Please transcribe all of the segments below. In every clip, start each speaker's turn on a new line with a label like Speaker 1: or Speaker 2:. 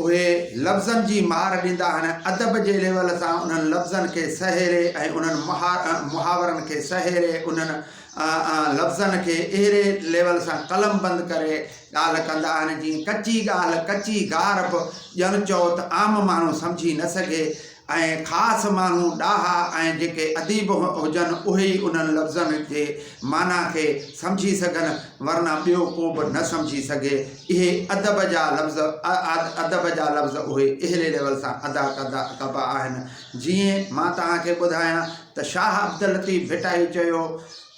Speaker 1: اهي لفظن جي مهار ڏيندا آهن، ادب جي ليول سان انهن لفظن کي سهيڙي ۽ انهن محاورن کي سهيڙي انهن لفظن کي اهڙي ليول سان قلم بند ڪري ڳالهه ڪندا آهن جيئن ڪچي ڳالهه ڪچي گار به ڄڻ چئو ته عام ماڻهو سمجهي نه سگهي ۽ خاص ماڻهو ڏاها ۽ جيڪي اديب هجن اهي ئي انهن لفظن جي معنيٰ کي سمجهي سگهن ورنه ٻيو ڪو به نه سمجهي سگهي اهي ادب جا لفظ ادب جا لفظ اهي اهلي ليول سان ادا ڪبا آهن جيئن مان توهان کي ٻڌايان ته شاهه عبداللطيف ڀٽائي چيو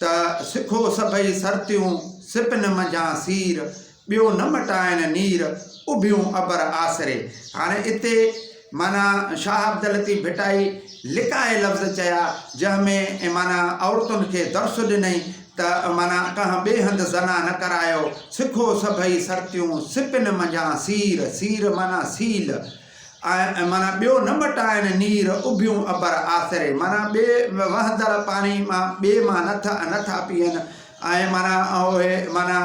Speaker 1: ته سکو سڀئي سرتيون سپن منجهان سير ٻيو نه مٽائن نير اڀيون ابر آسري. هاڻي اتي معنيٰ شاهه عبداللطيف ڀٽائي لڪائي لفظ چيا جنهن ۾ معنيٰ عورتن کي درس ڏنئي ته معنيٰ ڪنهن ٻئي هنڌ زنا نه ڪرايو، سکو سڀئي سرتيون سپن منجهان سير، سير معنيٰ سيل. ۽ معنيٰ ٻيو نه ٻٽائن نير اڀيون ابر آسري معنيٰ ٻي وهندڙ پاڻي مان ٻي مان نه ٿا نه ٿا پيئن ۽ معنيٰ اهي معنيٰ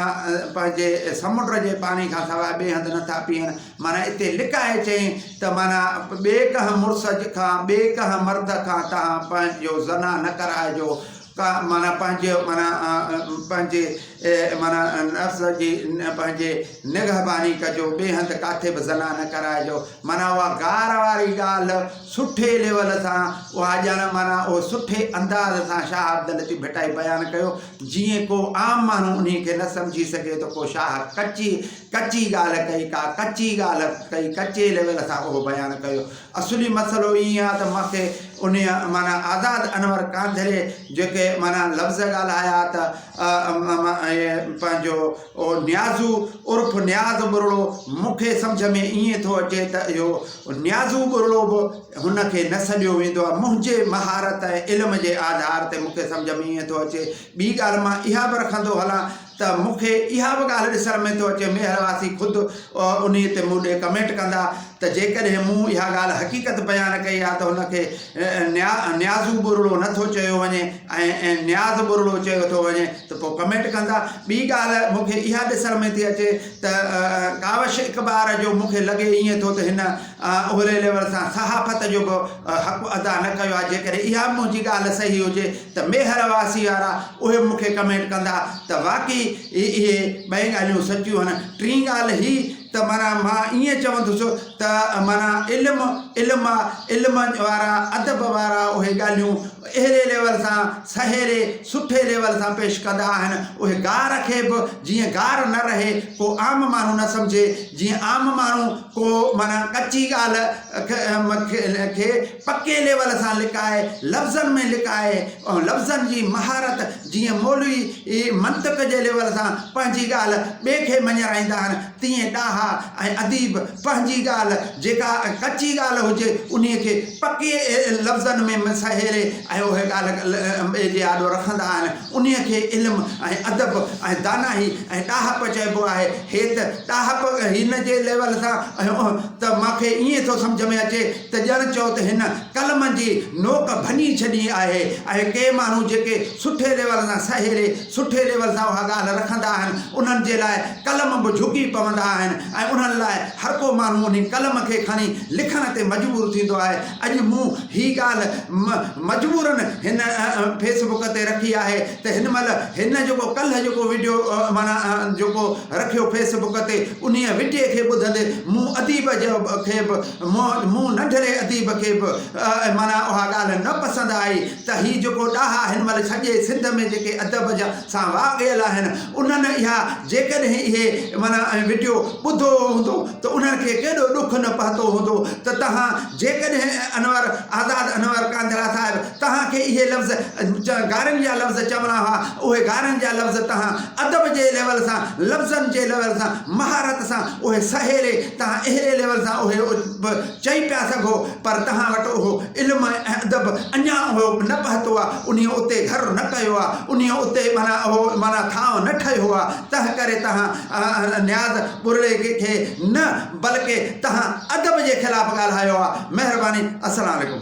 Speaker 1: پنهنجي سمنڊ جي پاڻي کان سواء ٻئي هنڌ نه ٿا پيئن معنيٰ اتي لڪائي چئين ته معنيٰ ٻئي ڪنهن مڙس کان ٻئي ڪنهن مرد کان تان پنهنجو زنا نه ڪرائجو ڪا معنيٰ پنهنجي معنيٰ پنهنجي معنيٰ نفس جي پنهنجي نگهباني ڪجو ٻئي هنڌ ڪاٿي به زنا نه ڪرائجو معنيٰ اها گار واري ڳالهه سٺي ليول سان اها ڄڻ معنيٰ اهو سٺي انداز سان شاهه عبداللطيف ڀٽائي بيان ڪيو جيئن ڪو عام ماڻهو ان کي نه سمجهي سگهي ته ڪو شاهه ڪچي ڪچي ڳالهه ڪئي ڪا ڪچي ڳالهه ڪئي ڪچي ليول سان اهو بيان ڪيو اصولي مسئلو ائين آ ته مونکي انهيء معنيٰ آزاد انور ڪانڌري جيڪي معنيٰ لفظ ڳالهايا ته پنهنجو نيازو عرف نياز ٻرڙو مونکي سمجهه ۾ ائين ٿو اچي ته اهو نيازو ٻرڙو به هن کي نه سڏيو ويندو آ منهنجي مهارت ۽ علم جي آڌار تي مونکي سمجهه ۾ ائين ٿو اچي ٻي ڳالهه مان اها به رکندو هلان ته مون کي اها به ڳالهه ڏسڻ ۾ ٿو اچي ميهڙ واسي خود انهي تي مون ڏي ڪمينٽ ڪندا ته جيڪڏهن مون اها ڳالهه حقيقت بيان ڪئي آهي ته ان کي نيا نيازو ٻرڙو نه ٿو چيو وڃي ۽ نياز ٻرڙو چيو ٿو وڃي ته پوء ڪمينٽ ڪندا ٻي ڳالهه مون کي اها ڏسڻ ۾ ٿي اچي ته ڪاوش اقبار جو مون کي لڳي ائين ٿو ته هن اهڙي ليول سان صحافت جو به حق ادا نه ڪيو آهي جيڪڏهن اها به منهنجي ڳالهه صحيح هجي ته ميهڙ واسي وارا اهي به مون کي ڪمينٽ ڪندا ته واقعي اهي ٻئي ڳالهيون سچيون آهن ٽين ڳالهه هي ته معنيٰ مان ائين چوندس ته معنيٰ علم علم آهي علم وارا ادب وارا اهي ڳالهيون اهڙي ليول سان سهيڙي سٺي ليول سان پيش ڪندا آهن اهي گار کي به جيئن گار نه رهي ڪو عام ماڻهو نه سمجهي جيئن عام ماڻهو ڪو معنيٰ ڪچي ڳالهه کي پڪي ليول سان لڪائي لفظن ۾ لڪائي لفظن جي مهارت جيئن مولوي ئي منطق جي ليول سان پنهنجي ڳالهه ٻئي کي مڃرائيندا آهن، تيئن ڏاها ۽ اديب پنهنجي ڳالهه جيڪا ڪچي ڳالهه هجي، انهيء کي پڪي لفظن ۾ سهيڙي ۽ اهي ڳالهه ٻئي جي آڏو رکندا آهن. انهيء کي علم ۽ ادب ۽ دانائي ۽ ڏاهپ چئبو آهي. هيت ڏاهپ هن جي ليول سان ته مون کي ائين ٿو سمجهه ۾ اچي ته ڄڻ چئو ته هن قلم جي نوڪ ڀڃي ڇڏي آهي ۽ ڪي ماڻهو جيڪي سٺي ليول سان سهيڙي سٺي ليول سان اها ڳالهه رکندا آهن انهن جي لاء قلم به جهڪي پوندا آهن ۽ انهن لاء هر ڪو ماڻهو انهي قلم کي کڻي لکڻ تي مجبور ٿيندو آهي اڄ مون هي ڳالهه مجبورن هن فيس بڪ تي رکي آهي ته هن مهل هن جيڪو ڪلهه جيڪو وڊيو معنيٰ جيڪو رکيو فيس بڪ تي انهي وڊيي کي ٻڌندي مون اديب کي به مون ننڍڙي اديب کي به معنيٰ اها ڳالهه نه پسند آئي ته هي جيڪو ڏاها هن مهل سڄي سنڌ ۾ جيڪي ادب جا سان واڳيل آهن انهن اها جيڪڏهن اهي معنيٰ ۽ وڊيو ٻڌو هوندو ته انهن کي ڪيڏو ڏک نه پهتو هوندو ته توهان جيڪڏهن انور آزاد انور ڪانڌرا صاحب توهان کي اهي لفظ گارن جا لفظ چوڻا هئا اهي گارن جا لفظ توهان ادب جي ليول سان لفظن جي ليول سان مهارت سان اهي سهيڙي توهان اهڙي ليول سان اهي به چئي پيا سگهو پر توهان وٽ اهو علم ۽ ادب اڃا اهو نه پهتو آهي انهيء اتي گهر نه ڪيو آهي انهيء اتي معنيٰ اهو معنيٰ ٿانء نه ٺهيو آهي تنهن ڪري توهان نياز ٻرڙي کي نه بلڪه توهان ادب جي خلاف ڳالهايو آهي مهرباني السلام عليڪم.